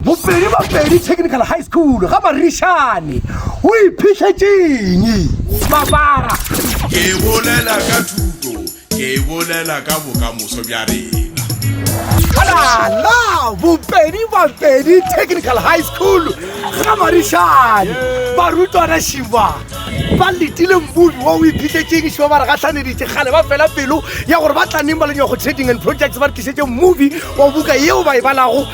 Bopedi Bapedi Technical High School ga Marišane o iphihletseng mabara. Ke bolela ka thuto, ke bolela ka bokamoso bja rena. Ala Bopedi Bapedi Technical High School ga Marišane barutwana šiba ba letile mmubi wa o iphihletseng šiba ba re gahlaneditše kgale ba fela pelo ya gore ba tla neng ba le nywago trading and projects ba re tlišetse mmubi wa buka yeo ba e balago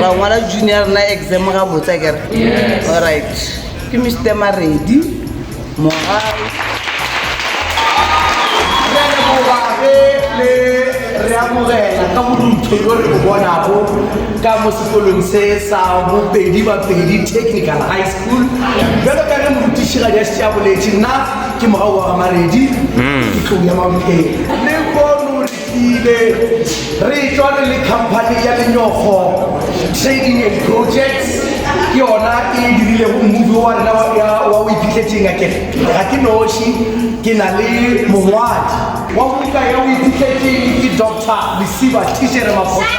ra ngwala junior rena exam ga botsa kere allright ke mr maredi mogare le re amogela ka borutho yo re bonago ka mo sekolong se sa bopedi bapedi technical high school jalo ka re morutišigadi a šitše a boletše nna ke mogau wa gamaredi ke tlou ya maphelo Rile re etšwa re le khamphani ya Lenyokgo Trading and Projects, ke yona e dirilego movie wa rena wa ya wa O Iphihletseng. A ke re ga ke noši, ke na le mongwadi wa buka ya O Iphihletseng, ke Doctor Lesiba Thishere Maphosa.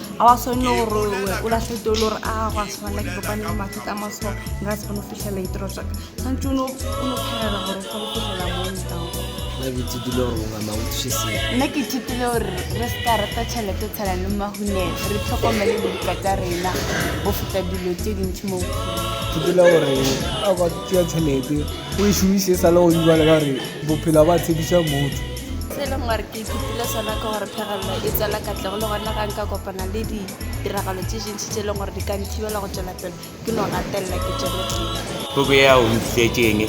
a wa swane le gore o lahlete o le gore a go a tshwana ke kopane le mathata a maso nka se kgone go fitlhela ditiro tsaka tshwanetse o ne o phelela gore o kgone go fitlhela nna ke ithutile gore re se ka rata tšhelete tshela le mahune re tlhokomele dibuka tsa rena go feta dilo tse dintsi mo ithutile gore a kwa tšea tšhelete o e šomise sa le go dibala ka gore bophelo ba tshepiša motho se e leng gore ke Ithutile sona ke gore phegelelo e tswela katlego le gona ga nka kopana le ditiragalo tše dintši tše e leng gore di ka nthibela go tšwela pele ke no gatelela ke tšwele pele. Puku ye ya O Ntlišitše Eng?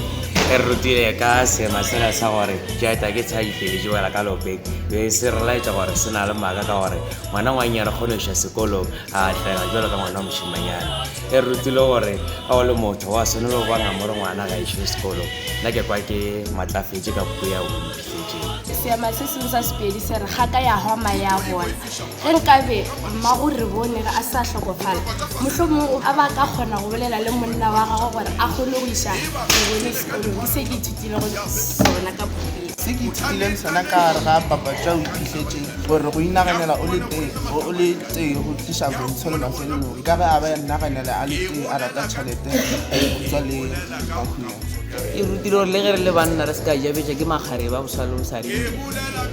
e re rutile ka seema sela sa gore Jeta ke tshadi feletše wela ka lopeng be e se re laetša gore se na le maaka ka gore ngwanangwannyane kgone go iša sekolong a atlega jalo ka ngwana wa mošemanyana. E re rutile gore ga o le motho wa swanelo go ba ngamore ngwana ga išo sekolong. Nna ke kwa ke matlafetše ka puku ya Wimpi. Seema se sengwe sa Sepedi se re, Ga ka ya hwa mae a bona. Ge nkabe Mmagorebone ge a sa hlokofala, mohlomongwe a ba ka kgona go bolela le monna wa gagwe gore a kgone go iša Rebone sekolong le se ke ithutilego sona ka Phuthegile. Se ke ithutileng sona ka gare ga Papa Tšwa o iphihletse gore go inaganela o le tee bo o le tee go tliša bontsho le mafelelong ka ge a be a inaganela a le tee a rata tšhelete go tšwa le Mahunyane. e rutile gore le ge re le banna re se ka jabetša ke makgare ba boswa le bosadi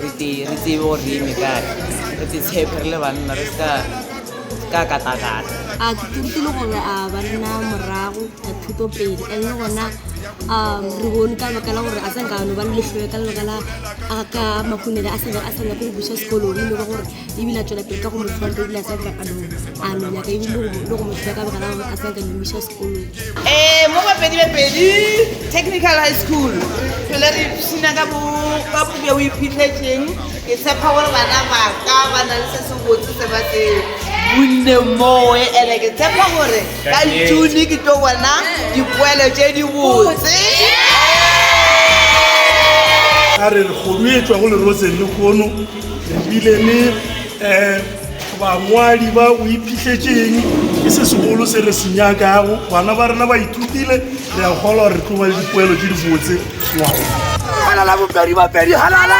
re tsebe gore re eme kae re te tshepe re le banna re se ka katakata a ke rutile gore a banna morago a thuto pele and le gona um re bone ka lebaka la gore a tsa nkano ba lehloe ka lebaka la ka makhunele a sebe a sena ko go busa sekolong e lego gore ebile a tswela pele ka go motho wa ebile a tsa nkakanong a nonyaka ebile le go motho ka lebaka la gore a tsa nka Eh, mo bapedi be pedi technical high school tlhole re ipshina ka puke o iphitlhetseng ke tshepa gore bana ba ka ba na le se se botse se ba se bonne moe ene ke tshepa gore ka june ke tlo bona dipoelo tse di botse a re re kgodu e tswa go leroseng le kgono re bile le um Bangwadi ba o iphihletseng ke se segolo se re se nyakago. Bana ba rena ba ithutile, re a kgolwa gore re tlo ba le dipoelo tse di botse ngwago. Halala bopedi bapedi halala!